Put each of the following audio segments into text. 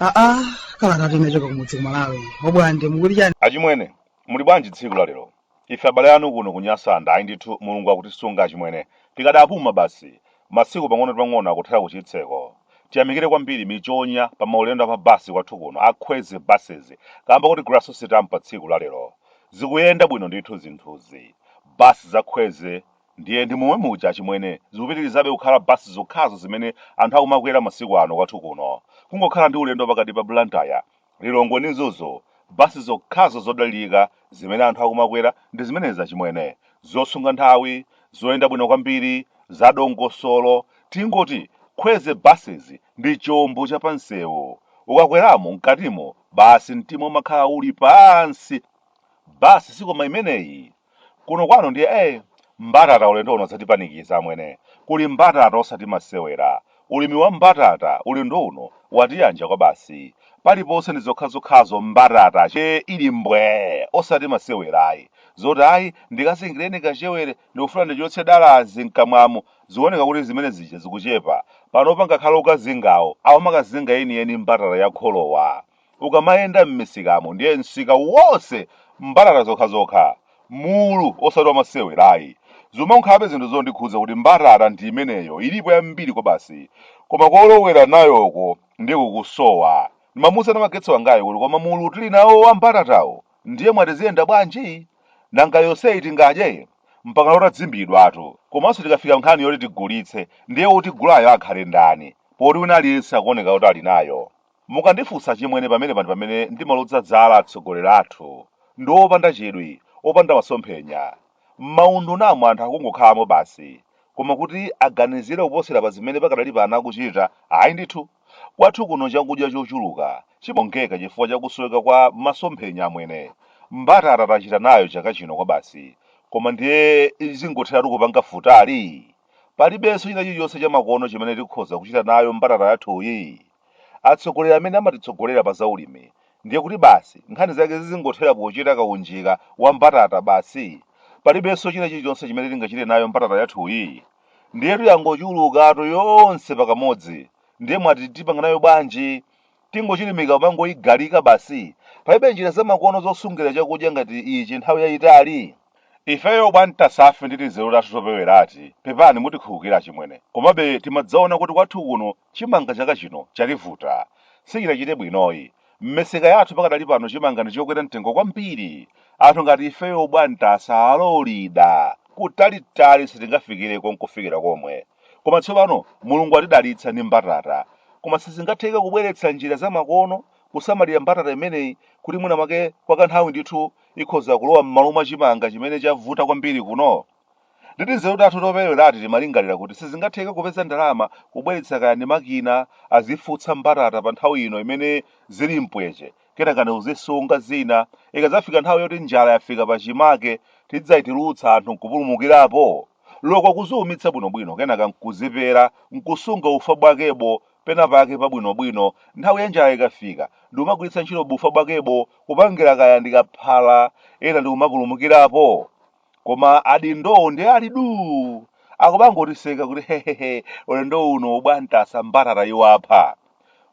aa kalata yochoka kumudzi kumalawi obwande mukuti chani achimwene muli bwanji tsiku la lero Ife abale anu kuno ku Nyasaland ayi ndithu Mulungu akutisunga achimwene. Tikadapuma basi. Masiku pang'ono ndi pang'ono akuthera ku chitseko. Tiyamikire kwambiri michonya pa maulendo a pa bus kwathu kuno a Khwezi Buses kaamba koti Grasso Sitampa tsiku la lero. Zikuyenda bwino ndithu zinthuzi. Bus za Khwezi ndiye ndi momwe muja achimwene. Zikupitilizabe kukhala bus zokhazo zimene anthu akumakwera masiku ano kwathu kuno. Kungokhala ndi ulendo pakati pa Blantyre Lilongwe ndi Mzuzu, bus zokhazo zodalirika zimene anthu akumakwera ndi zimenezi achimwene. Zosunga nthawi, zoyenda bwino kwambiri, zadongosolo. Tingoti Khwezi Buses ndi chombo cha pamsewu. Ukakweramo, mkatimo, basi mtima umakhala uli pansi. Bus sikoma imeneyi. kuno kwathu ndiye eh mbatata ulendo uno yatipanikiza amwene kuli mbatata osati masewera ulimi wa mbatata ulendo uno watiyanja kwabasi paliponse ndi zokhazokhazo mbatata che ili mbwe osati masewera ayi zoti ayi ndikazingireni kachewere ndikufuna ndichotse dalazi mkamwamo zikuoneka kuti zimene zija zikuchepa panopa ngakhale okazingawo akumakazinga yeniyeni mbatata ya kholowa Ukamayenda m'misikamo ndiye msika wonse mbatata zokhazokha, mulu osati wa masewera ayi. Zimakhalabe zinthu zondikhudza kuti mbatata ndi imeneyo ilipo yambiri kwabasi koma kolowera nayoko ndiye kukusowa. Ndimamufunsa namagetsi wangayo kuti koma mulu tili nawo wa mbatatawu ndiye mwati ziyenda bwanji? Nanga yonseyi tingadye? Mpakana utadzimbidwatu. Komanso tikafika nkhani yoti tigulitse ndiye wotigulayo akhale ndani poti wina aliyense akuoneka kuti ali nayo? Mukandifunsa achimwene pamenepa ndi pamene ndimaloza dzala atsogoleri athu ndi opanda chidwi, opanda masomphenya. M'maundunamo anthu akungokhalamo basi, koma kuti aganizire kuposera pa zimene pakadali pano akuchita, ayi ndithu. Kwathu kuno chakudya chochuluka chimawonongeka chifukwa cha kusoweka kwa masomphenya amwene. Mbatata tachita nayo chaka chino kwabasi, koma ndiye izingotheratu kupanga futali? Palibenso china chilichonse chamakono chimene tikhoza kuchita nayo mbatata yathuyi? Atsogoleri amene amatitsogolera pa za ulimi ndiye kuti basi nkhani zake zizingothera pochita kaunjika wa mbatata basi? Palibenso china chilichonse chimene tingachite nayo mbatata yathuyi? Ndiyetu yangochulukatu yonse pakamodzi ndiye mwati tipanga nayo bwanji? Tingochilimika kumangoigalika basi? Palibe njira zamakono zosungira chakudya ngati ichi nthawi yaitali? Ifeyo abwantasafe ndi tinzeru tathu toperewerati pepani mutikhululukira achimwene komabe timadzaona kuti kwathu kuno chimanga chaka chino chativuta sichinachite bwinoyi mmisika yathu pakadali pano chimanga ndichokwera mtengo kwambiri anthu ngati ifeyo abwantasa aloleda kutalitali sitingafikireko nkufikira komwe koma tsopano mulungu watidalitsa ndi mbatata koma sizingatheke kubweretsa njira zamakono kusamalira mbatata imeneyi kuti mwina mwake kwa kanthawi ndithu ikhoza kulowa m'malo mwa chimanga chimene chavuta kwambiri kuno? Ndi tinzeru tathu toperewerati timalingalira kuti sizingatheke kupeza ndalama kubweretsa kaya ndi makina azifutsa mbatata panthawi ino imene zili mpweche, kenaka ndi kuzisunga zina, ikadzafika nthawi yoti njala yafika pachimake, tidzazitulutsa anthu nkupulumukirapo? loko kuziumitsa bwinobwino kenaka nkuzipera nkusunga ufa bwakebo penapake pabwinobwino nthawi ya njala ikafika ndikumagwiritsa ntchito bufa bwakebo kupangira kaya ndikaphala ena ndikumapulumukirapo koma adindowo ndiye ali duu akumangotiseka kuti hehehe ulendo uno abwantasa mbatata iwapha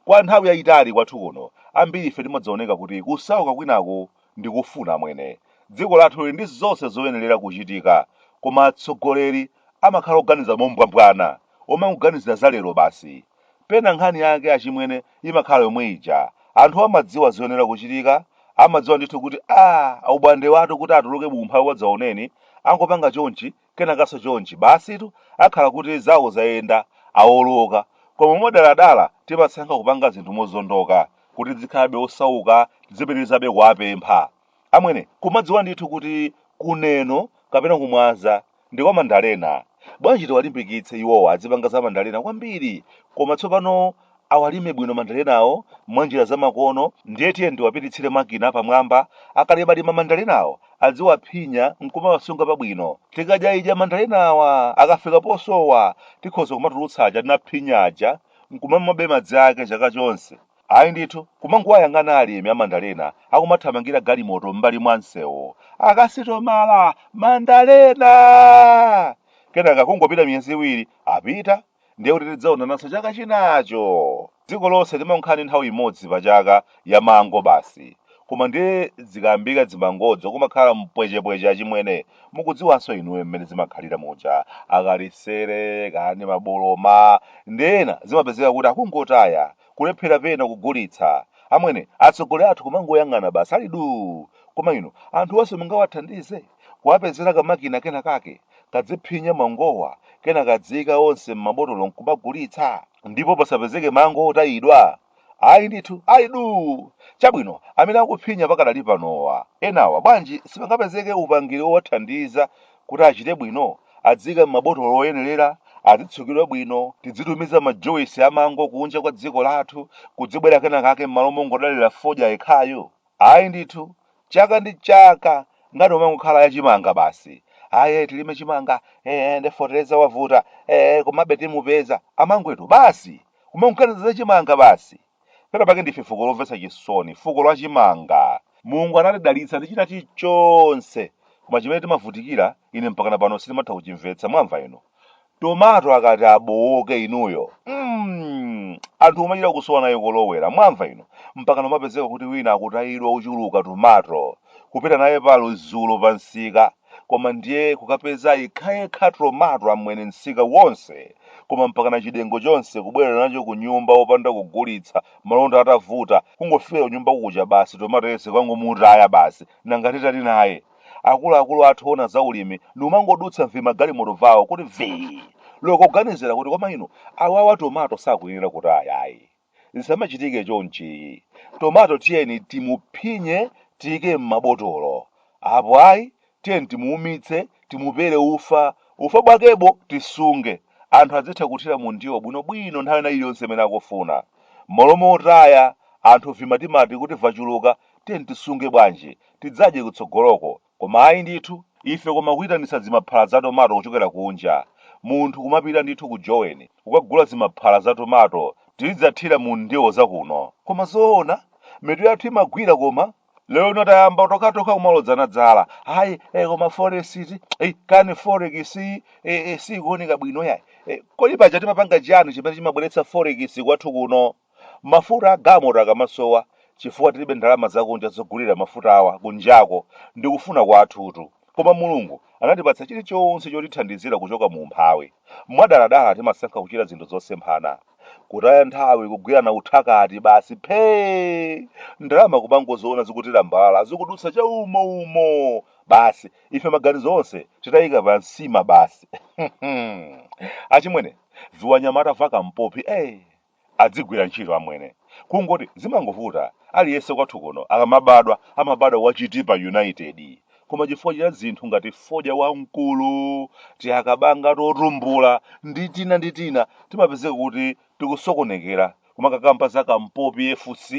kwa nthawi yayitali kwathu kuno ambiri ife timadzaoneka kuti kusauka kwinaku Ndi kufuna amwene. Dziko lathu lili ndi zonse zoyenerera kuchitika. Koma atsogoleri amakhala oganiza mombwambwana, omangoganizira za lero basi. Pena nkhani yake achimwene imakhala yomwe ija. Anthu amadziwa zoyenera kuchitika, amadziwa ndithu kuti aah abwandewatu kuti atuluke mu umphawi wadzaoneni, angopanga chonchi kenakaso chonchi basitu akhala kuti zawo zayenda awoloka koma modaladala timasankha kupanga zinthu mozondoka kuti azikhalabe osauka azipitirizabe kuwapempha amwene kumadziwa ndithu kuti ku Neno kapena ku Mwanza ndi kwa mandalena bwanji tiwalimbikitse iwowa azipanga za mandalena kwambiri koma tsopano awalime bwino mandalenawo mwa njira zamakono ndiye tiyeni tiwapititsire makina apamwamba akamalima mandalenawo adziwaphinya nkumawasunga pabwino tikadyaidya mandalenawa akafika posowa tikhoza kumatulutsa aja tinaphinya aja nkumamwabe madzi ake chaka chonse ayi ndithu kumangowayang'ana alimi a mandalena akumathamangira galimoto m'mbali mwa msewu akasitomala mandalena kenaka kungopita miyezi iwiri apita ndiye kuti tidzaonananso chaka chinacho. Dziko lonse limangokhala ndi nthawi imodzi pa chaka ya mango basi. Koma ndiye zikayambika dzimangodzo kumakhala mpwechepweche achimwene. Mukudziwanso inuyo mmene zimakhalira muja. Akalisere, kaya ndi maboloma, ndi ena zimapezeka kuti akungotaya, kulephera pena kugulitsa. Amwene, atsogoleri athu kumangoyang'ana basi ali duu. Koma inu, anthuwanso mungawathandize? kuwapezera kamakina kenakake kadziphinya mangowa kenaka kadziika onse m'mabotolo nkumagulitsa ndipo pasapezeke mango otayidwa ayi ndithu ayi duu chabwino amene akuphinya pakadali panowa enawa bwanji sipangapezeke upangiri wowathandiza kuti achite bwino adziika m'mabotolo oyenerera azitsukidwa bwino tidzitumiza majuwisi amango kunja kwa dziko lathu kudzibwera kenakake m'malo mongodalira fodya yekhayo Ayi ndithu, chaka ndi chaka nkhani imangokhala ya chimanga basi. Ayi eh, tilime chimanga, eh, eh, nde feteleza wavuta, eh, eh, komabe timupeza. Amangwetu, basi! Kumangoganiza za chimanga basi! Pena pake ndife fuko lomvetsa chisoni, fuko la chimanga. Mulungu anatidalitsa ndi china chilichonse, koma chimene timavutikira, ine mpakana pano sindimatha kuchimvetsa, mwamva inu? Tomato akati abowoke inuyo mm, anthu kumachita kusowa naye kolowera mwamva inu mpakana umapezeka kuti wina akutayidwa ochuluka tomato kupita naye pa Lizulu pa msika koma ndiye kukapeza yekhayekha tomato amwene msika wonse koma mpakana chidengo chonse kubwerera nacho ku nyumba opanda kugulitsa malonda atavuta kungofika kunyumba kuja basi tomato yense kumangomutaya basi nanga titani naye akuluakulu athu oona za ulimi ndikumangodutsa mvimagalimoto vawo kuti vii loko kuganizira kuti koma inu awawa tomato sakuyenera kutaya yayi zisamachitike chonchiyi tomato tiyeni timuphinye tiyike m'mabotolo apo ayi tiyeni timuumitse timupere ufa ufa bwakebo tisunge anthu azitha kuthira mu ndiwo bwinobwino nthawi ina iliyonse imene akufuna m'malo mo otaya anthu vimatimati kuti vachuluka tiyeni tisunge bwanji tidzadye kutsogoloko, koma ayi ndithu, ife koma kuyitanitsa zimaphala za tomato kuchokera kunja. Munthu kumapita ndithu ku Joweni kukagula zimaphala za tomato tizidzathira mu ndiwo za kuno. Koma zoona? Mitu yathu imagwira koma? Lero lino tayamba tokhatokha kumalodzana dzala. Ayi, eh, koma foresiti, eh, kani forekisi, eh, eh, siyikuoneka bwino yayi. Eh, kodi paja timapanga chiyani chimene chimabweretsa forekisi kwathu kuno? Mafuta a galimoto akamasowa chifukwa tilibe ndalama zakunja zogulira mafutawa kunjako ndi kufuna kwathutu. Koma Mulungu anatipatsa chilichonse chotithandizira kuchoka mu umphawi. Mwadaladala timasankha kuchita zinthu zosemphana. Kutaya nthawi kugwirana uthakati basi phee! Ndalama kumangoziona zikutilambalala zikudutsa chaumo umo! Basi ife maganizo onse titaika pa nsima basi. Achimwene, viwanyamata va kampopi ee! adzigwira ntchito amwene kungoti zimangovuta aliyese kwathu kuno akamabadwa amabadwa wa chitipa united koma chifukwa cha zinthu ngati fodya wamkulu tiakabanga totumbula ndi tina ndi tina timapezeka kuti tikusokonekera kumakakamba za kampopi fc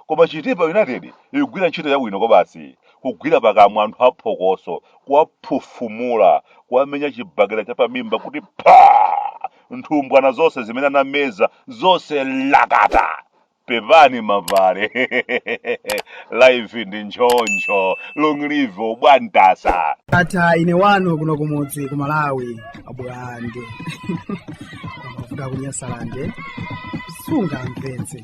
koma chitipa united ikugwira ntchito yabwino kwabasi kugwira pakamwa anthu aphokoso kuwaphufumula kuwamenya chibakera chapamimba kuti pha nthumbwana zonse zimene anameza zonse lakata pepani abale life ndi nchoncho long live ubwantasa ata ine wanu kuno kumudzi ku malawi abulande amavuta kunyasalande sungamvetse